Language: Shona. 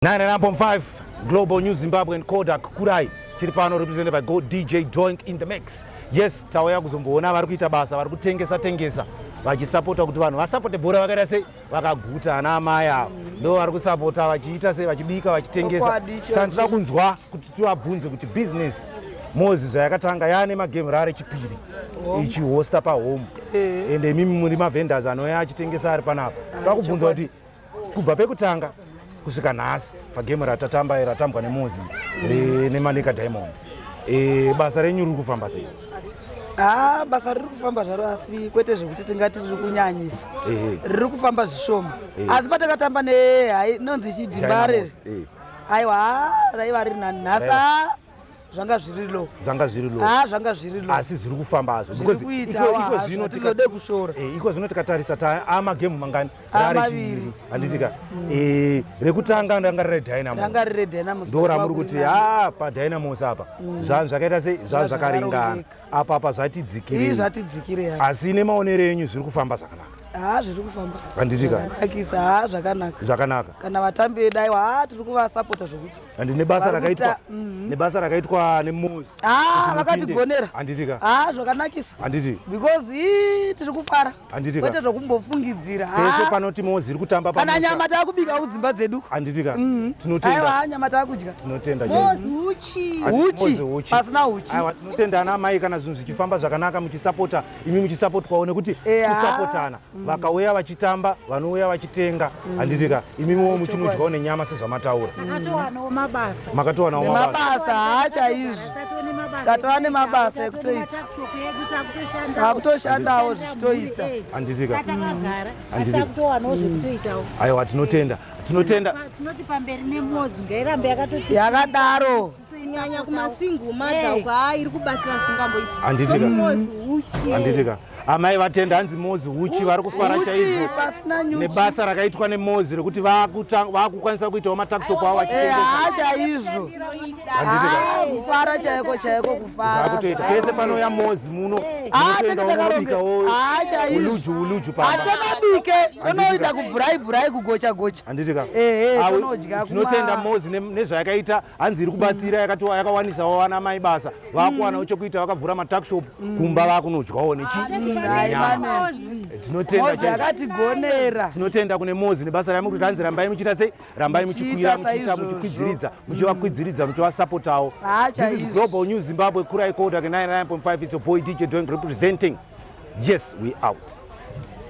99.5 Global News Zimbabwe and Kodak Kurai tiri pano represented by Go DJ Doink in the mix. Yes, tauya kuzomboona vari kuita basa, vari kutengesa tengesa vachisapota kuti vanhu vasapote bhora vakaita sei vakaguta ana amai ava ndo vari kusapota vachiita sei vachibika vachitengesa tandida kunzwa kuti tivabvunze kuti business mozi zvayakatanga yaane magame rare chipiri ichihosta pahome eh. and imimi muri mavendors anouya achitengesa ari panapa vakubvunza kuti kubva pekutanga kusvika nhasi pagame ratatamba ratambwa nemuzi eh, nemanika diamond eh, basa renyu riri kufamba sei haa ah, basa riri kufamba zvaro asi kwete zvekuti tingati riri kunyanyisa riri kufamba zvishoma asi patakatamba neinonzi chidhimba riri aiwa raiva riri nanhasi zvanga zviri low zvanga zviri low ah zvanga zviri low asi zviri kufamba hazvo because iko zvino tikade kushora eh iko zvino tikatarisa ta ama ah, game mangani ah, maviri anditika mm. eh rekutanga ndanga re dynamos ndanga re dynamos ndora muri kuti ha ah, pa dynamos apa mm. zvanzvakaita sei zvanzvakaringana apa apa zvatidzikirei Ii zvatidzikirei apa. asi nemaonero enyu zviri kufamba zvakanaka haa zviri kufamba Handiti ka? zvakanakisa haa zvakanaka zvakanaka kana vatambi vedu aiwa haa tiri kuvasapota zvekuti and nebasa Vari rakaitwa kuita- mhm. nebasa rakaitwa nemosi haa vakatigonera handitika haa zvakanakisa handiti because ii tiri kufara Handiti ka. Kwete zvokumbofungidzira. Pese panoti mozi iri kutamba pamusha. Kana nyama takubika kudzimba dzedu. Handiti ka. Mm. Tinotenda. Aiwa nyama takudya. Tinotenda. Mozi uchi. Uchi. Uchi. Pasina uchi. Aiwa tinotenda ana mai kana zvinhu zvichifamba zvakanaka muchisapota imi muchisapotwawo nekuti kusapotana. Mm. Vakauya vachitamba vanouya vachitenga. Mm. Handiti ka. Imi muwo muchinodyawo nenyama sezvamataura. Makatowanawo mabasa. Makatowanawo mabasa. Mabasa hacha izvi. tatova nemabasa ekutoita takutoshandawo zvichitoita anditika aiwa tinotenda tinotenda tinoti pamberi nemozi ngairambe yakatoti yakadaro kunyanya kumasingle mother eh. uko haa iri kubatsira zvisingamboiti anditika anditika amai vatenda hanzi mozi huchi vari kufara chaizvo nebasa rakaitwa nemozi rekuti vakukwanisa kuitawo matakshop avo vachitengesachaizvo kufara chaiko chaiko kufaraakutoita pese panouya mozi muno unotoendaoobikaouluju uluju paatobike tonoita kubhurai bhurai kugocha gocha handiti ka tinotenda mozi nezvayakaita hanzi iri kubatsira yakatiwa yakawanisawo vana mai basa vakuwanawo chekuita vakavhura matakshop kumba vakunodyawo nechinyama tinotenda Mozi akatigonera tinotenda kune mozi nebasa raimuri kuti hanzi rambai muchiita sei rambai muchikwira Muchiita muchiita saizvozvo. muchikwidziridza muchivakwidziridza muchivasapotawo Haa, this is chaizvo. global news zimbabwe kurai kodak 99.5 is your boy dj doing representing yes we out